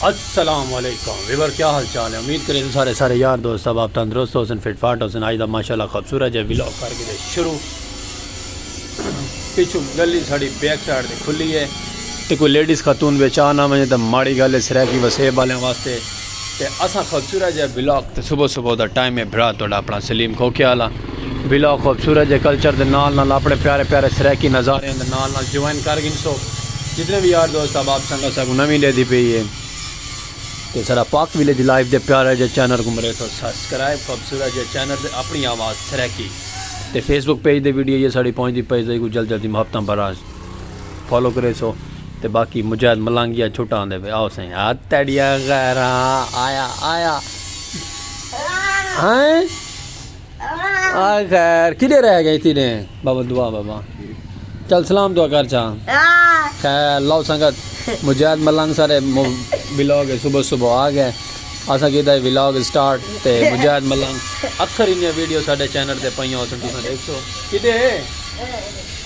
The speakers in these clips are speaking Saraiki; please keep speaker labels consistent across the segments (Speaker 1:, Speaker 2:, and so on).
Speaker 1: السلام علیکم ویور کیا حال چال ہے امید کریں سارے سارے یار دوست صاحب آپ تندرست ہو سن فٹ فاٹ ہو سن آئی دا ماشاءاللہ خوبصورت جے ویلو کر کے شروع پیچھو گلی ساڑی بیک سائیڈ دے کھلی ہے تے کوئی لیڈیز خاتون بیچا نہ میں تے ماڑی گل ہے سرائے کی وسیب والے واسطے تے اساں خوبصورت جے ولاگ تے صبح صبح دا ٹائم اے بھرا تہاڈا اپنا سلیم کھوکھے آلا ولاگ خوبصورت جے کلچر دے نال نال اپنے پیارے پیارے سرائیکی نظاریاں دے نال نال جوائن کر گھنسو جتنے وی یار دوست احباب سنگت اساں کوں نویں ڈیدھی پئی اے تے ساڈا پاک ولیج لائف دے پیارے جے چینل کوں مریسو سبسکرائب خوبصورت جے چینل تے اپنی آواز سرائیکی تے فیس بک پیج دے ویڈیو جے ساڈی پہنچدی پئی تے ایکوں جلد جلدی محبتاں براز۔ فالو کریسو تے باقی مجاہد ملانگیا چھٹا آندے پہ آؤ سائیں ہاتھ تڑیا غیران آیا آیا ہائیں آئے خیر کدے رہ گئے تھی نے بابا دعا بابا چل سلام دعا کر چاہ خیر لو سنگت مجاہد ملانگ سارے بلاگ صبح صبح آ گئے اسا کیتا ہے ولاگ سٹارٹ تے مجاہد ملنگ اکثر انہاں ویڈیو ساڈے چینل تے پئیاں اساں تساں دیکھو کدے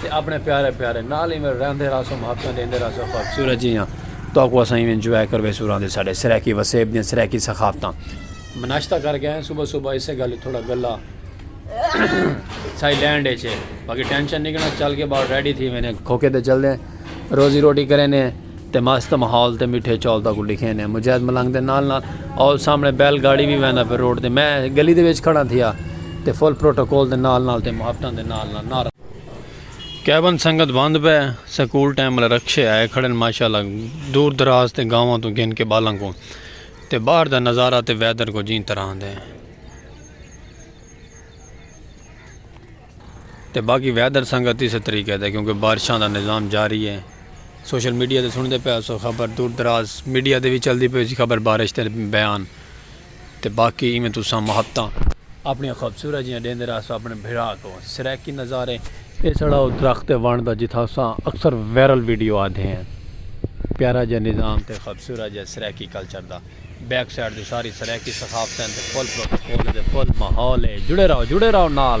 Speaker 1: تے اپنے پیارے پیارے نال ایویں رہندے رہسوں محبتاں ڈیندے رہسوں خوبصورت جیاں تہاکوں اساں ایویں انجوائے کرویسوں رہندے ساڈے سرائیکی وسیب دیاں سرائیکی ثقافتاں میں ناشتہ کر کے آیاں صبح صبح اسے گل تھوڑا گلا سائی لینڈ اچ باقی ٹینشن نہیں کنا چل کے باہر ریڈی تھی وینے کھوکے تے چل دے روزی روٹی کرے نے تے مست ماحول تے میٹھے چول تاکو لکھے نے مجاہد ملنگ دے نال نال اور سامنے بیل گاڑی بھی ویندا پھر روڈ تے میں گلی دے وچ کھڑا تھیا تے فل پروٹوکول دے نال نال تے محبتاں دے نال نال نار کیون سنگت بند پہ سکول ٹائم والے رکشے آئے کھڑے ماشاءاللہ دور دراز تے گاواں تو گھن کے بالاں کو تے باہر دا نظارہ تے ویدر کو جیں طرح دے تے باقی ویدر سنگت اس طریقے دے کیونکہ بارشاں دا نظام جاری ہے سوشل میڈیا تے سن دے پہ سو خبر دور دراز میڈیا دے بھی چل دی پہ خبر بارش تے بیان تے باقی ایویں تساں محبتاں اپنیاں خوبصورت جیاں ڈیندے رہسو اپنے بھرا کوں۔ سرائیکی نظارے۔ اے ساڑا او درخت ہے ونڑ دا جتھاں اساں اکثر وائرل ویڈیو آندے ہیں۔ پیارا جیہا نظام تے خوبصورت جیہا سرائیکی کلچر دا۔ بیک سائیڈ تے ساری سرائیکی ثقافتیں تے فل پروٹوکول دے فل ماحول ہے۔ جڑے رہو جڑے رہو نال۔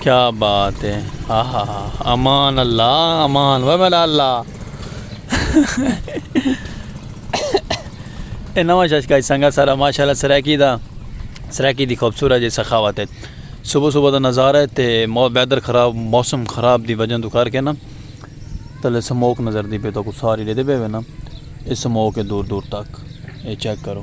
Speaker 1: کیا بات ہے امان اللہ امان و میرا اللہ اے نواں شش کا سنگا سارا ماشاءاللہ سرائیکی دا سرائیکی دی خوبصورت جے سخاوت ہے صبح صبح دا نظارہ ہے تے ویدر خراب موسم خراب دی وجہ تو کر کے نا تلے سموک نظر دی پے تو کو ساری دے دے پے نا اے سموک ہے دور دور تک اے چیک کرو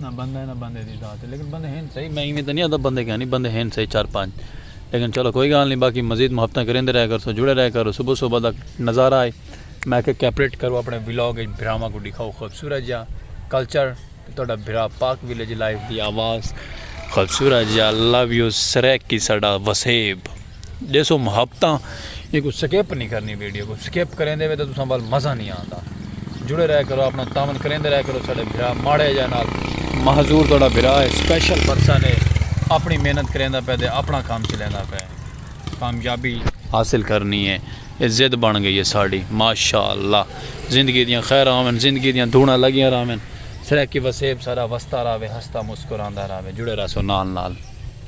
Speaker 1: نہ بندہ ہے نہ بندے دی ذات ہے لیکن بندے ہن صحیح میں ایویں تے نہیں آتا بندے کہیں نہیں بندے ہن صحیح چار پانچ لیکن چلو کوئی گال نہیں باقی مزید محبتاں کریندے رہے کرسو جڑے رہے کرو صبح صبح دا نظارہ ہے میں کہ کیپریٹ کرو اپنے ولاگ اچ بھراواں کو دکھاؤ خوبصورت جا کلچر تہاڈا بھرا پاک ولیج لائف دی آواز خوبصورت جا لو یو سریک کی ساڈا وسیب ڈیسو محبتاں یہ کو سکیپ نہیں کرنی ویڈیو کو سکیپ کریں دے وے تو تساں بال مزہ نہیں آندا جڑے رہے کرو اپنا تامن کریں دے رہے کرو ساڑے بھرا ماڑے جائے نال محضور توڑا بھرا ہے سپیشل برسا نے اپنی محنت کریں دا پہ دے اپنا کام چلیں دا پہ کامیابی حاصل کرنی ہے یہ زد بن گئی ہے ساڑی ماشاءاللہ زندگی دیاں خیر آمن زندگی دیاں دھونا لگیاں رہا سرکی وسیب سارا وستا رہا ہستا مسکران دا رہا جڑے رہا سو نال نال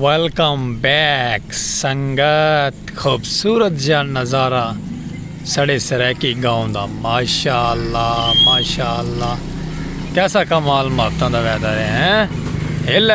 Speaker 1: ویلکم بیک سنگت خوبصورت جا نظارہ سڑے سریکی گاؤں دا ماشاءاللہ ماشاءاللہ کیسا کمال مہتوں دا ویدر ہے ہیں ہلے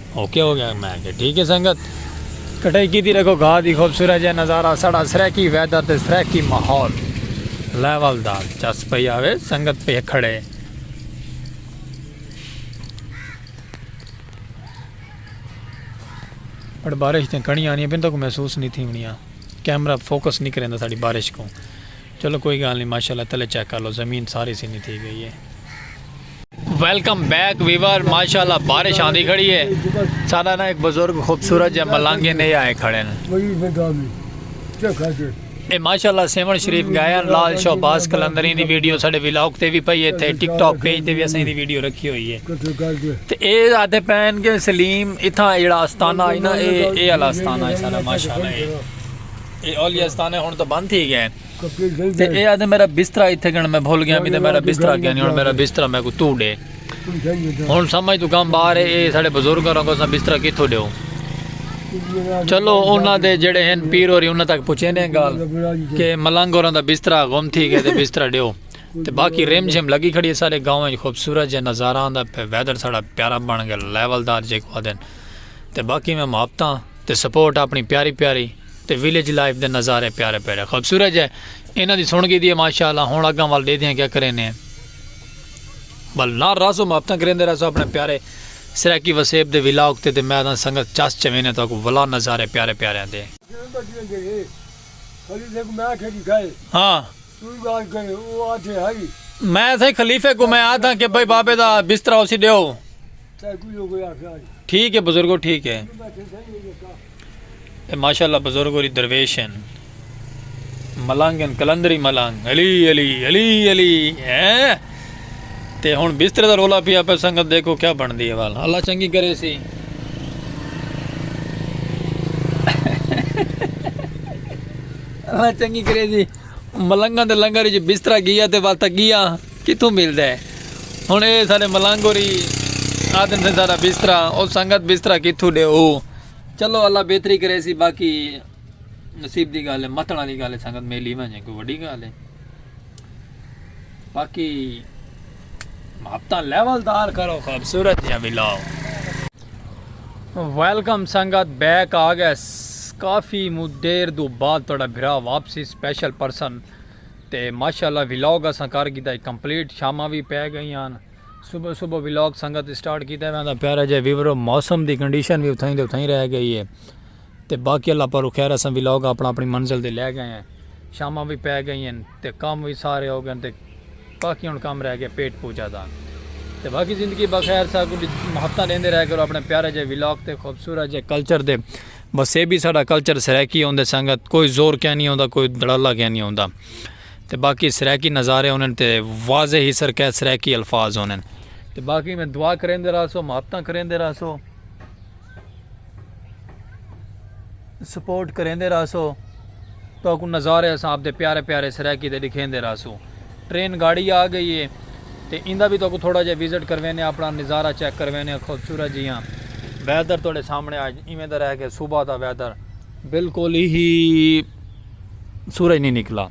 Speaker 1: اوکے ہو گیا میں کہ ٹھیک ہے سنگت۔ کٹائی کیتی ڈیکھو گاہ دی خوبصورت جا نظارہ ساڈا سرائیکی ویدر تے سرائیکی ماحول لیول دا چس پئی آوے سنگت پئے کھڑے۔ بٹ بارش دیاں کڑیاں آنیاں پین تاکوں محسوس نی تھیونڑیاں کیمرہ فوکس نی کریندا ساڈی بارش کوں چلو کوئی گال نی ماشاءاللہ تلے چیک کر لو زمین ساری سنی تھی گئی ہے۔ ویلکم بیک ویور ماشاءاللہ بارش آندی کھڑی ہے ساڈا نا ایک بزرگ خوبصورت جے ملنگ ہے نے آئے کھڑے ہیں اے ماشاءاللہ سیون شریف گئے ہیں لال شہباز قلندری دی ویڈیو ساڈے ولاگ تے وی پئی ہے تھے ٹک ٹاک پیج تے وی اساں دی ویڈیو رکھی ہوئی ہے تے اے آدھے پین کے سلیم اتھاں ایڑا استانہ ہے نا اے اے والا استانہ ہے ساڈا ماشاءاللہ اے اے اولیاء استانے ہن تو بند تھی گئے تے اے آدھے میرا بسترا ایتھے گن میں بھول گیا میرا میرا بسترا گیا نہیں ہن میرا بسترا میں کو تو ڈے ہن سمجھ تو کم باہر ہے اے ساڈے بزرگ اور کو سا بسترا کیتھو دیو چلو انہاں دے جڑے ہیں پیر اور انہاں تک پوچھے نے گال کہ ملنگ اور دا بسترا گم تھی گئے تے بسترا دیو تے باقی ریم جھم لگی کھڑی ہے سارے گاؤں وچ خوبصورت جے نظارہ آندا پہ ویدر ساڈا پیارا بن گیا لیول دار جے کو دن تے باقی میں ماپتاں تے سپورٹ اپنی پیاری پیاری تے ویلیج لائف دے نظارے پیارے پیڑے خوبصورت جے انہاں دی سن گھیدی ہے ماشاءاللہ ہن اگاں ول ڈیدھیاں کیا کرینے بل نہ رازو محبتاں کریندے رازو اپنے پیارے سرائیکی وسیب دے ولاگ تے تے میں دا سنگت چس چوینے تو کو ولا نظارے پیارے پیارے ہیں دے ہاں میں تھے خلیفے کو میں آدھا کہ بھائی بابے دا بسترا اسی دیو ٹھیک ہے بزرگو ٹھیک ہے ماشاء اللہ بزرگ اور درویش ہیں ملنگ ہیں کلندری ملنگ علی علی علی علی ہیں تے ہن بستر دا رولا پیا پہ سنگت دیکھو کیا بن دی ہے والا اللہ چنگی کرے سی اللہ چنگی کرے سی ملنگا دے لنگر جی بستر گیا تے واتا گیا کتھوں ملدے ہن اے سارے ملنگ ہوری آدھن سے سارا بسترا او سنگت بسترا کتھوں ڈے ہو چلو اللہ بہتری کرے سی باقی نصیب دی گالے متنا دی گالے سنگت میلی میں جائیں کوئی وڈی گالے باقی محبتہ لیول دار کرو خوبصورت یا ملاو ویلکم سنگت بیک آ گئے کافی مدیر دو بعد توڑا بھرا واپسی سپیشل پرسن تے ماشاءاللہ ولاگ اساں کر گھدا ہے کمپلیٹ شاماں وی پے گئیاں ہن صبح صبح ولاگ سنگت اسٹارٹ کیتا ہے ویندا پیارا جے ویورو موسم دی کنڈیشن وی اتھائیں دے اتھائیں رہ گئی ہے تے باقی اللہ پارو خیر اساں ولاگ اپنا اپنی منزل تے لے گئے ہیں شاماں وی پے گئی ہیں تے کام وی سارے ہو گئے تے باقی ہن کام رہ گئے پیٹ پوجا دا تے باقی زندگی بخیر سا کو ہفتہ لیندے رہ کرو اپنے پیارے جے ولاگ تے خوبصورت جے کلچر دے بس اے بھی ساڈا کلچر سرائیکی اوندے سنگت کوئی زور کینی اوندا کوئی دھڑلہ کینی اوندا تے باقی سرائیکی نظارے ہونن تے واضح ہی سر قید سرائیکی الفاظ ہونن۔ تے باقی میں دعا کریندے رہسو محبتاں کریندے رہسو سپورٹ کریندے رہسو۔ تہاکوں نظارے اساں آپدے پیارے پیارے سرائیکی دے ڈکھیندے رہسوں۔ ٹرین گاڑی آ گئی ہے تے ایندا وی تہاکوں تھوڑا جیہا وزٹ کرویندے آں اپنا نظارہ چیک کرویندے آں خوبصورت جیہاں ویدر تہاڈے سامنے اج ایویں دا رہے گئے صبح دا ویدر بالکل ہی سورج نی نکلا۔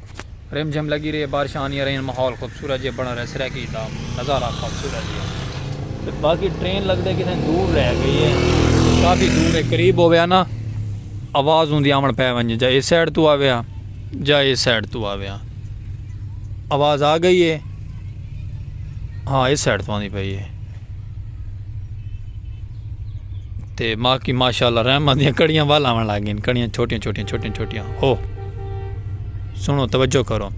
Speaker 1: رم جھم لگی رہی بارشاں آندیاں رہیاں ماحول خوبصورت جیہا بنڑا رہیا سرائیکی دا نظارہ خوبصورت جیہا تے باقی ٹرین لگدے کتھیں دور رہ گئی ہے کافی دور ہے قریب ہوویا نا آواز اوندی آون پے ونجے جا اے سائیڈ توں آوے ہاں جا اے سائیڈ توں آوے ہاں آواز آ گئی ہے ہاں اے سائیڈ توں آندی پئی ہے۔ تے ماں کی ماشاءاللہ رحمت دیاں کڑیاں وال آون لگ گئین کڑیاں چھوٹیاں چھوٹیاں چھوٹیاں چھوٹیاں او سنو توجہ کرو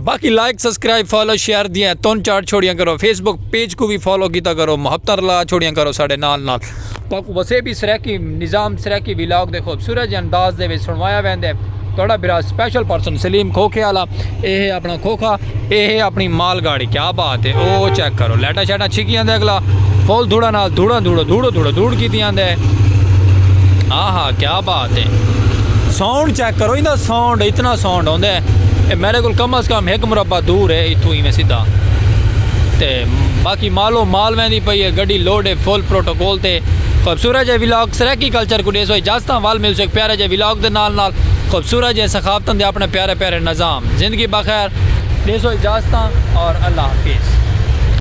Speaker 1: باقی
Speaker 2: لائک سبسکرائب فالو شیئر دیاں تون چار چھوڑیاں کرو فیس بک پیج کو بھی فالو کیتا کرو محبت رلا چھوڑیاں کرو ساڈے نال نال تہاکوں وسے بی سرائیکی نظام سرائیکی ویلاگ دے خوبصورت جے انداز دے وچ سنڑوایا ویندے تہاڈا بھرا سپیشل پرسن سلیم کھوکھے آلا اے ہے اپنا کھوکھا اے ہے اپنی مال گاڑی کیا بات ہے او چیک کرو لائٹاں شائٹاں چھکی آندے اگلا فل دھوڑا نال دھوڑا دھوڑا دھوڑا دھوڑا دھوڑ کیتی آندے آہا کیا بات ہے ساؤنڈ چیک کرو ایندا ساؤنڈ اتنا ساؤنڈ ہوندے اے میرے کول کم از کم ایک مربع دور ہے ایتھوں ایویں سیدھا تے باقی مال و مال ویندی پئی ہے گڈی لوڈ ہے فل پروٹوکول تے خوبصورت جے ولاگ سرائیکی کلچر کوں ڈیسو اجازتاں ول ملسو ایک پیارے جے ولاگ دے نال نال خوبصورت جے سخاوتاں دے اپنے پیارے پیارے نظام زندگی بخیر ڈیسو اجازتاں اور اللہ حافظ.